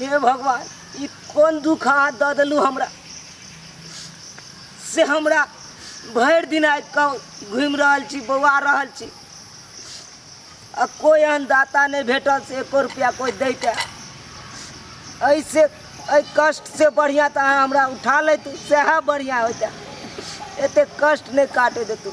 हे भगवान ई कोन दुख अहाँ दऽ देलहुँ हमरा से हमरा भरि दिन आबि कऽ घुमि रहल छी बौआ रहल छी आ कोइ एहन दाता नहि भेटल से एको रुपैआ कोइ दैके एहिसे एहि कष्टसँ बढ़िआँ तऽ अहाँ हमरा उठा लैतू सएह बढ़िआँ होइते एतेक कष्ट नहि काटै देतू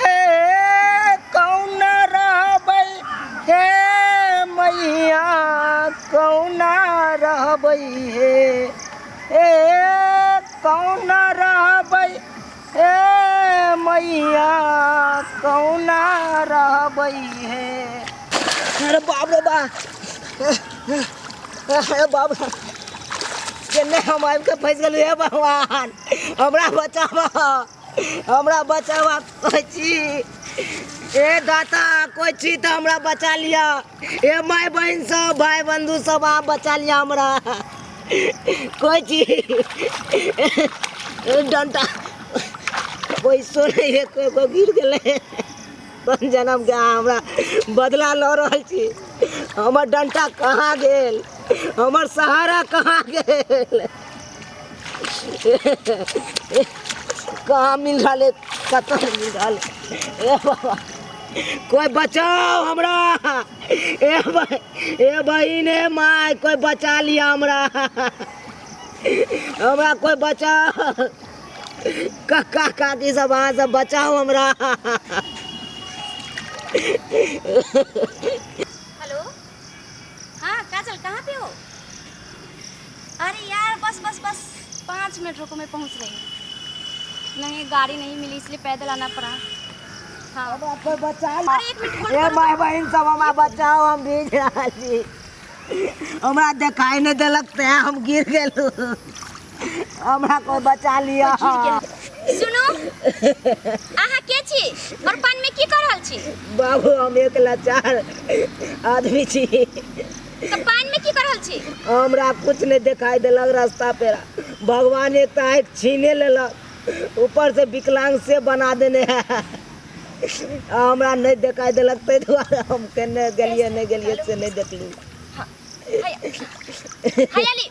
हे कौन रहबै हे मैया कौन रहबै हे हे कौन रहबै हे मैया कौन रहबै हे अरे बाप रे बा अरे बाप रे केने हम आबि कऽ फँसि गेलहुँ हे भगवान हमरा बचाबह हमरा बचावा कोइ छी ए दाता कोइ छी तऽ हमरा बचा लिअ ए माय बहिन सब भाय बंधु सब अहाँ बचा लिअ हमरा कोइ छी डंटा कोइ सुनै हे कोइ कोइ गिर गेलै अपन जन्म के अहाँ हमरा बदला लऽ रहल छी हमर डंटा कहाँ गेल हमर सहारा कहाँ गेल कहाँ मिल रहल है कतऽ से मिल रहल है ए बाबा कोई बचाओ हमरा ए भाई ए बहिन ए माय कोई बचा लिया हमरा हमरा कोई बचाओ काका काकी सब अहाँ सब बचाओ हमरा हेलो हँ काजल कहाँ पे हो अरे यार बस बस बस पाँच मिनट रुको मैं पहुँच रही हूँ नहीं गाड़ी नहीं मिली इसलिए पैदल आना पड़ा हाँ अब आप कोई बचा ला अरे एक मिनट ए माय बहन सब हमारा बचाओ हम भीज रहा छी हमरा देखाई नहीं देलक ते हम गिर गेलू हमरा कोई बचा लिया सुनू अहाँ के छी और पान में की कर रहल छी बाबू हम एक लाचार आदमी छी तो पान में की कर रहल छी हमरा कुछ नहीं दिखाई देलक रास्ता पे भगवान एक तो आँख छीने लेलक ऊपर से विकलांग से बना देने है हमरा नहीं दिखाई देलक ताहि दुआरे हम केने गेलिए नहीं गेलिए से नहीं देखलू हाय हाय अली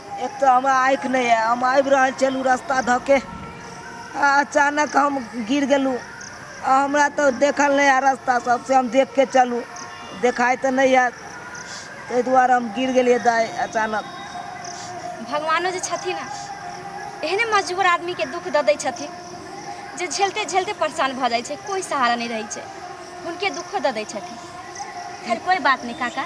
एक तऽ हमरा आँखि नहि यऽ हम आबि रहल छलहुँ रस्ता धऽ के आ अचानक हम गिर गेलहुँ आ हमरा तऽ देखल नहि यऽ रस्ता सबसे हम देख के चलू देखाइ तऽ नहि यऽ ताहि दुआरे हम गिर गेलियै दाइ अचानक भगवानो जे छथिन ने एहने मजबूर आदमीके दुख दऽ दै छथिन जे झेलते झेलते परेशान भऽ जाइ छै कोइ सहारा नहि रहै छै हुनके दुखो दऽ दै छथिन खैर कोइ बात नहि काका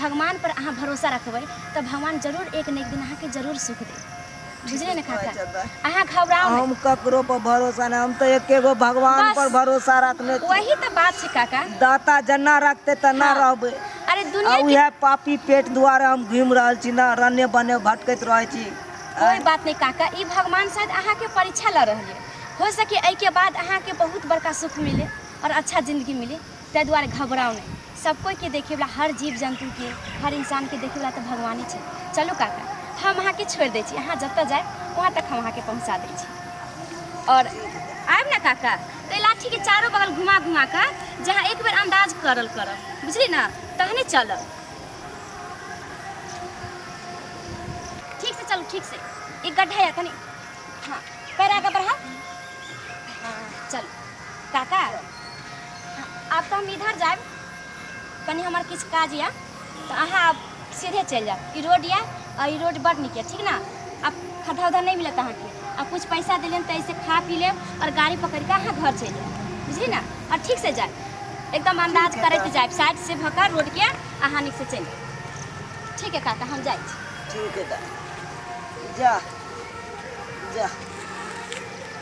भगवान पर अहाँ भरोसा रखबै तऽ भगवान जरूर एक ने एक दिन अहाँके जरूर सुख देत बुझलियै ने काका अहाँ घबराउ हम ककरो पर भरोसा नहीं हम तो एक गो भगवान बस। पर भरोसा रखने छी। वही तऽ बात छै काका दाता जना रखते तना हाँ। रहबे अरे आ दुनिया के उहे पापी पेट द्वारे हम घूम रहल छी ना रने बने भटकैत रहे छी कोई बात नहीं काका ई भगवान शायद अहाँ के परीक्षा लऽ रहल है हो सके एहि के बाद अहाँ के बहुत बड़का सुख मिले और अच्छा जिंदगी मिले ताहि दुआरे घबराउ नहि सब कोइके देखैवला हर जीव जन्तुके हर इंसानके देखैवला तऽ भगवाने छै चलू काका हम अहाँके छोड़ि दै छी अहाँ जतऽ जाय वहाँ तक हम अहाँके पहुँचा दै छी आओर आयब ने काका तऽ लाठीके चारो बगल घुमा घुमा कऽ जे अहाँ एक बेर अन्दाज करल करब बुझली ने तहने चलब ठीक से चलू ठीक से एक गड्ढा यऽ कनी हाँ पैर आगे बढ़ाउ हाँ चलू काका आब तऽ हम इधर जायब कनि हमर किछु काज यऽ तऽ अहाँ आब सीधे चलि जायब ई रोड यऽ आ ई रोड बड नीक यऽ ठीक ने आब खद्धा उद्धा नहि मिलत अहाँके आ किछु पैसा देलियन तऽ ऐसे खा पी लेब और गाड़ी पकड़ के अहाँ घर चलि जायब बुझली ने और ठीक से जायब एकदम अंदाज करैत जायब साइड से भऽ कऽ रोड के अहाँ नीक से चलि जायब ठीक है काका हम जाइ छी ठीक है दा जा जा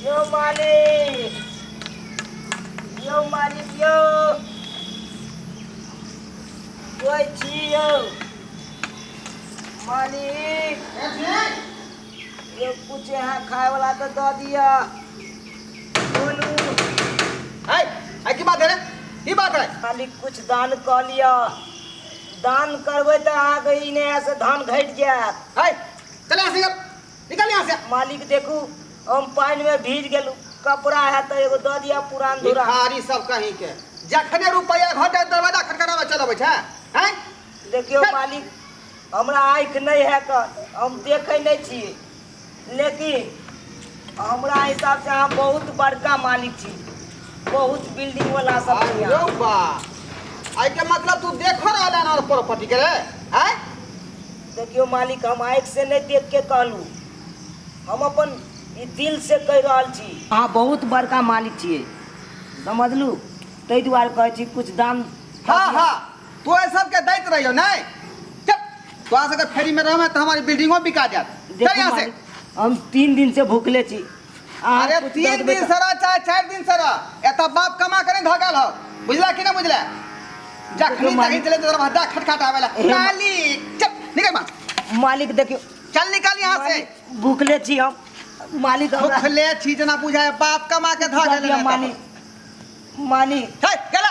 यो मालिक यो मालिक यो कोई छी यो मालिक यो कुछ यहाँ खाए वाला तो दे दिया बोलू है है की बात है रे की बात है मालिक कुछ दान कऽ लिअ दान करबै तऽ अहाँके ई नयासँ धान घटि जायत है चले ऐसे कर निकल यहाँ से मालिक देखू हम पानि में भीज गेलू कपड़ा है तो एगो दऽ दिया पुरान धुरा भिखारी सब कहीं के जखने रुपया घटे दरवाजा खटखटावे चल अबै छै हैं देखियो चल। मालिक हमरा आँखि नहीं है कन हम देखे नहीं छी लेकिन हमरा हिसाब से अहाँ बहुत बड़का मालिक छी बहुत बिल्डिंग वाला सब छी अरे अहाँ। बा आई के मतलब तू देखो रहला ना प्रॉपर्टी के रे हैं देखियौ मालिक हम आँखि से नहि देख के कहलू हम अपन ई दिल से कहि रहल छी अहाँ बहुत बड़का मालिक छियै समझलू ताहि दुआरे कहै छी कुछ दाम हाँ हाँ तो सबके दैत रहियो नहीं चल तो अगर फ्री में रहबे तो हमारी बिल्डिंगो बिका जात चल यहाँ से हम तीन दिन से भूखले छी अहाँ अरे कुछ दऽ तीन देबै दिन तऽ- से रह चाहे चारि दिन से रह एतऽ बाप कमा करे धऽ गेल हो बुझला कि ना बुझला जखनी देखियौ, मालिक- तखनी चले तो दरवाजा खटखट आवेला एहे, मा- मालिक चल निकल बाहर मालिक देखियो चल निकल यहाँ से मालिक, भूखले छी हम मालिक हमरा भूखले छी जना बुझाए बाप कमा के धऽ गेल मालिक मालिक गेला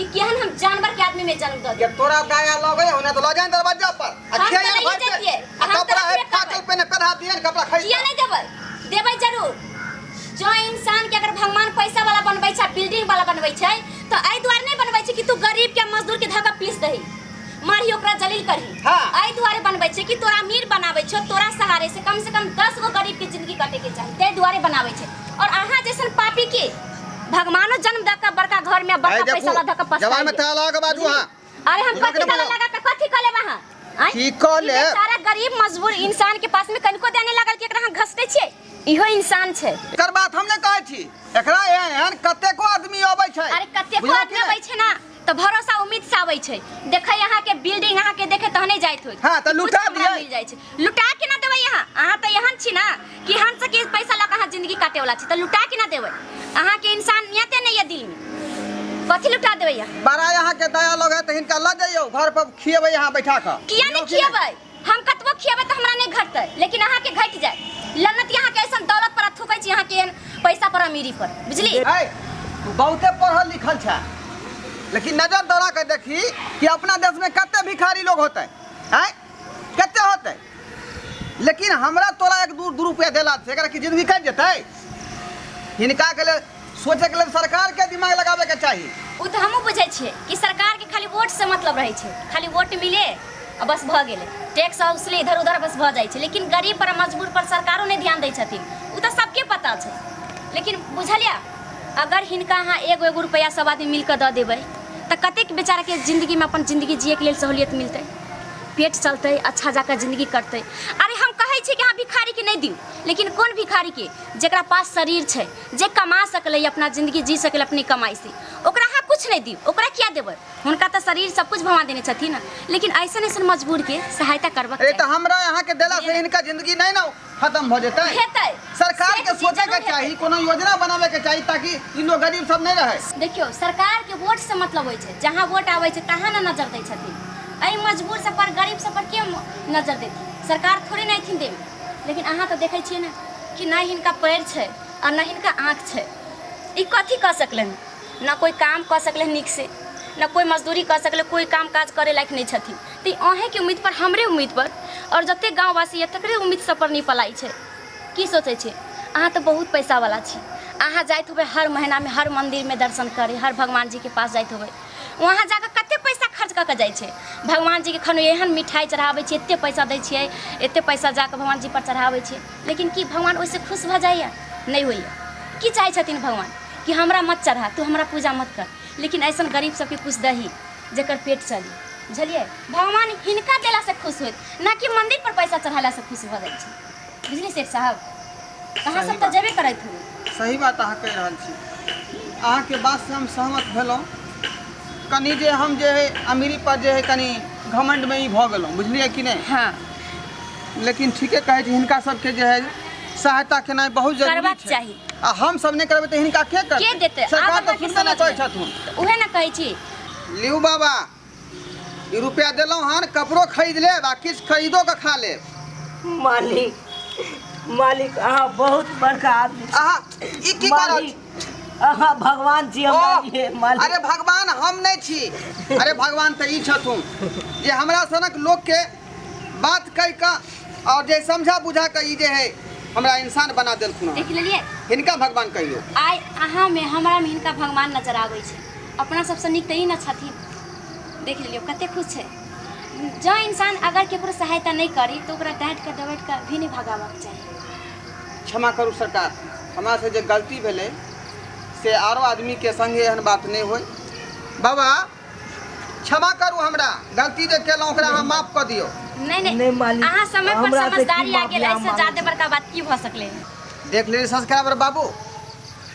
ई केहन हम जानवर के आदमी में जन्म दे जब तोरा दाया लगे हो ना तो लगे ना दरवाजा पर आ हम खेया तो नहीं भाई देतिए, पे आ हम तो कपड़ा है रखबे फाटल करबै। पे ना कढ़ा दिए ना कपड़ा खरीद किया नहीं देबै देबै जरूर जो इंसान के अगर भगवान पैसा वाला बनबै छै बिल्डिंग वाला बनबै छै तो एहि दुआरे नहीं बनबै छै कि तू गरीब के मजदूर के धक्का पीस दही मारी ओकरा जलील करही हाँ। एहि दुआरे बनबै छै कि तोरा अमीर बनाबै छो तोरा सहारे से कम से कम दस गो गरीब के जिंदगी कटे के चाही ताहि दुआरे बनाबै छै और अहाँ जैसन पापी के भगवानो जन्म दे के बड़का घर में बड़का देखू, पैसा ला धक पछताई जवान में ताला के बाजू हाँ। अरे हम इनका कथी के ताला बोलो। लगा के कथी कले वहां आँय? की कले? ई बेचारा गरीब मजबूर इंसान के पास में कनिको देने लागल कि एकरा हम घसते छियै इहो इंसान छै एकर बात हम नहि कहै छी एकरा एहन एहन कतेको आदमी अबै छै अरे कते बुझलहुँ कि आदमी नहि? अबै छै ना तऽ भरोसा उम्मीद से आबै छै देखै अहाँ के बिल्डिंग अहाँ के देखे तहने जाइत होत हाँ, तऽ कि लुटा कुछ हमरा दियै। मिल जाइ छै लुटा के ना देबै अहाँ अहाँ तऽ एहन छी ना कि हम से के पैसा लऽ के अहाँ जिंदगी काटे वाला छी तऽ लुटा के ना देबै अहाँ के इंसानियते नहीं है दिल में कथी लुटा देबै अहाँ बड़ा यहाँ के दया लोग है तो हिनका लग जाइयो घर पर खिएबै यहाँ बैठा कर किया नहीं खिएबै हम कतबो खियेबै तऽ हमरा नहि घटतै लेकिन अहाँके घटि जाय लन्नत अहाँके ऐसा दौलत पर थूकै छी अहाँके पैसा पर अमीरी पर बुझली तू बहुते पढ़ल लिखल छ लेकिन नजर दौड़ा के देखी कि अपना देश में कते भिखारी लोग होते हैं कते होते लेकिन हमरा तोरा एक दू दू रुपया देला से की जिंदगी कट जतै हिनका के सोचै के लेल सरकार के दिमाग लगाबे के चाही उ त हमहु बुझै छियै कि सरकार के खाली वोट से मतलब रहै छै खाली वोट मिले आ बस भ गेले टैक्स हाउसले इधर उधर बस भ जाइ छै लेकिन गरीब पर मजबूर पर सरकारो नै ध्यान दै छथिन उ त सबके पता छै लेकिन बुझलिया अगर हिनका अहाँ एगो एगो रुपैआ सब आदमी मिल क द देबै त कतेक बेचारा के जिंदगी में अपन जिंदगी जिए के लेल सहूलियत मिलतै पेट चलतै अच्छा जाकर जिंदगी कटतै अरे हम कहै छी कि अहाँ भिखारी के नै दियौ लेकिन कोन भिखारी के जेकरा पास शरीर छै जे कमा सकलै अपना जिंदगी जी सकलै अपनी कमाई से ओकरा अहाँ कुछ नहीं दी ओकरा क्या देबै हुनका तऽ शरीर सब कुछ भगवान देने छथिन लेकिन ऐसन ऐसन मजबूर के सहायता करबक अरे तो हमरा यहाँ के देला से इनका जिंदगी नहीं ना खत्म हो जेतै हेतै सरकार के सोचे के चाही कोनो योजना बनावे के चाही ताकि ई लोग गरीब सब नहीं रहे देखियो सरकार के वोट से मतलब होय छै जहाँ वोट आवे छै तहाँ ना नजर दै छथिन एहि मजबूर सब पर गरीब सब पर के नजर देथिन सरकार थोड़े ना एथिन देवे लेकिन अहाँ तऽ देखै छियै ने कि नहि हिनका पएर छै आ नहि हिनका आँख छै ई कथी कऽ सकलै हँ ने कोइ काम कऽ सकलै हँ नीकसँ ने कोइ मजदूरी कऽ सकलै कोइ काम काज करै लायक नहि छथिन तऽ ई अहीँके उम्मीदपर हमरे उम्मीदपर आओर जते गाँववासी यऽ तकरे उम्मीद सबपर नहि पलाइ छै की सोचै छै अहाँ तऽ बहुत पैसावला छी अहाँ जाइत होबै हर महीनामे हर मन्दिरमे दर्शन करै हर भगवान जीके पास जाइत होबै वहाँ जाकऽ कते पैसा खर्च कऽ कऽ जाइ छै भगवान जीके खन एहन मिठाइ चढ़ाबै छियै एते पैसा दै छियै एते पैसा जाकऽ भगवान जीपर चढ़ाबै छियै लेकिन की भगवान ओहिसँ खुश भऽ जाइए नहि होइए की चाहै छथिन भगवान कि हमरा मत चढ़ा तू हमरा पूजा मत कर लेकिन ऐसा गरीब सबके कुछ दही जकर पेट चली बुझलियै भगवान हिनका देलासँ खुश होइत ना कि मन्दिरपर पैसा चढ़ेलासँ खुश भऽ जाइ छै बुझलियै सेठ साहब अहाँ सब तऽ जेबे करैत हो सही बात अहाँ कहि रहल छी अहाँके बातसँ हम सहमत भेलहुँ कनि जे हम जे है अमीरी पर जे है कनि घमंड में ही भऽ गेलहुँ बुझलियै कि नहीं हाँ लेकिन ठीके कहै छी हिनका सबके जे है सहायता केनाइ बहुत जरूरी करबाक छै चाही। आ हम सब नहि करबै तऽ हिनका के के करतै देतै आब सरकार तऽ अहाँके सुनबे नहि करै समझमे छथुन तऽ उहे ने कहै छी लियू बाबा ई रुपया देलहुँ हन कपड़ो खरीद लेब आ किछु खरीदो कऽ खा लेब मालिक मालिक अहाँ बहुत बड़का आदमी छी। अहाँ ई की करत मालिक अहाँ भगवान जी हमरा ओह, लिए मालिक अरे भगवान हम नहि छी अरे भगवान तऽ ई छथुन जे हमरा सनक लोकके बात कहि कऽ आओर जे समझा बुझा कऽ ई जे है हमरा इंसान बना देलखुन हँ। देख लेलिए हिनका भगवान कहियो आइ अहाँ में हमरा में हिनका भगवान नजर आबै छै अपना सबसँ नीक तऽ ई ने छथिन देख लेलियो कते खुश छै जँ इंसान अगर केकरो सहायता नहि करी तऽ ओकरा डाँट कऽ डबैट कऽ भी नहि भगाबक चाही क्षमा करू सरकार हमरा से जे गलती भेलै से आरो आदमी के संगे एहन बात नहि होय बाबा क्षमा करू हमरा गलती जे केलहुँ ओकरा अहाँ माफ कऽ दियौ नहीं नहीं नहीं मालिक, अहाँ समय पर हमरा से की समझदारी आ गेल माफी ऐसे अहाँ ज्यादा बड़का बात की भ सकले है? देख लेली सब्सक्राइबर बाबू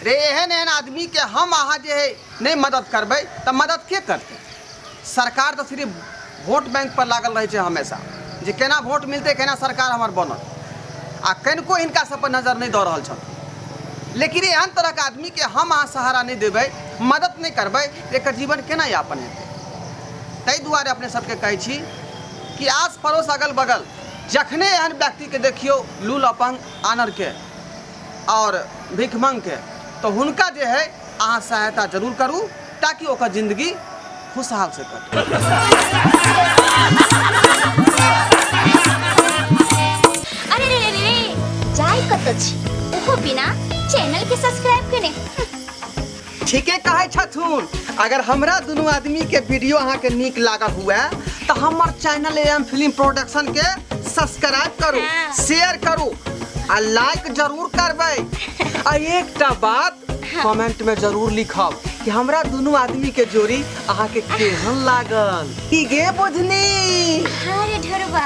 रे एहन एहन आदमी के हम अहाँ जे है नहीं मदद करबै तऽ मदद के करतै सरकार तऽ सिर्फ वोट बैंक पर लागल रहै छै हमेशा जे केना वोट मिलतै केना सरकार हमर बनत आ कनिको हिनका सब पर नजर नहि दऽ रहल छथि लेकिन एहन तरहके आदमीके हम अहाँ सहारा नहि देबै मदद नहि करबै एकर जीवन केना यापन हेतै ताहि दुआरे अपने सबके कहै छी कि आस पड़ोस अगल बगल जखने एहन व्यक्तिके देखियौ लूल अपन आनरके आओर भिखमंगके तऽ हुनका जे है अहाँ सहायता जरूर करू ताकि ओकर जिंदगी खुशहाल से कटे अरे रे रे रे रे जाय कत छी ओहो बिना चैनल के सब्सक्राइब केने ठीके कहे छथुन अगर हमरा दुनू आदमी के वीडियो अहाँ के नीक लागल हुए तो हमर चैनल एम फिल्म प्रोडक्शन के सब्सक्राइब करू शेयर करू आ लाइक जरूर करबै आ एकटा बात कमेंट में जरूर लिखब कि हमरा दोनों आदमी के जोड़ी अहाँ के केहन लागल की गे बुझनी हाँ रे ढोरबा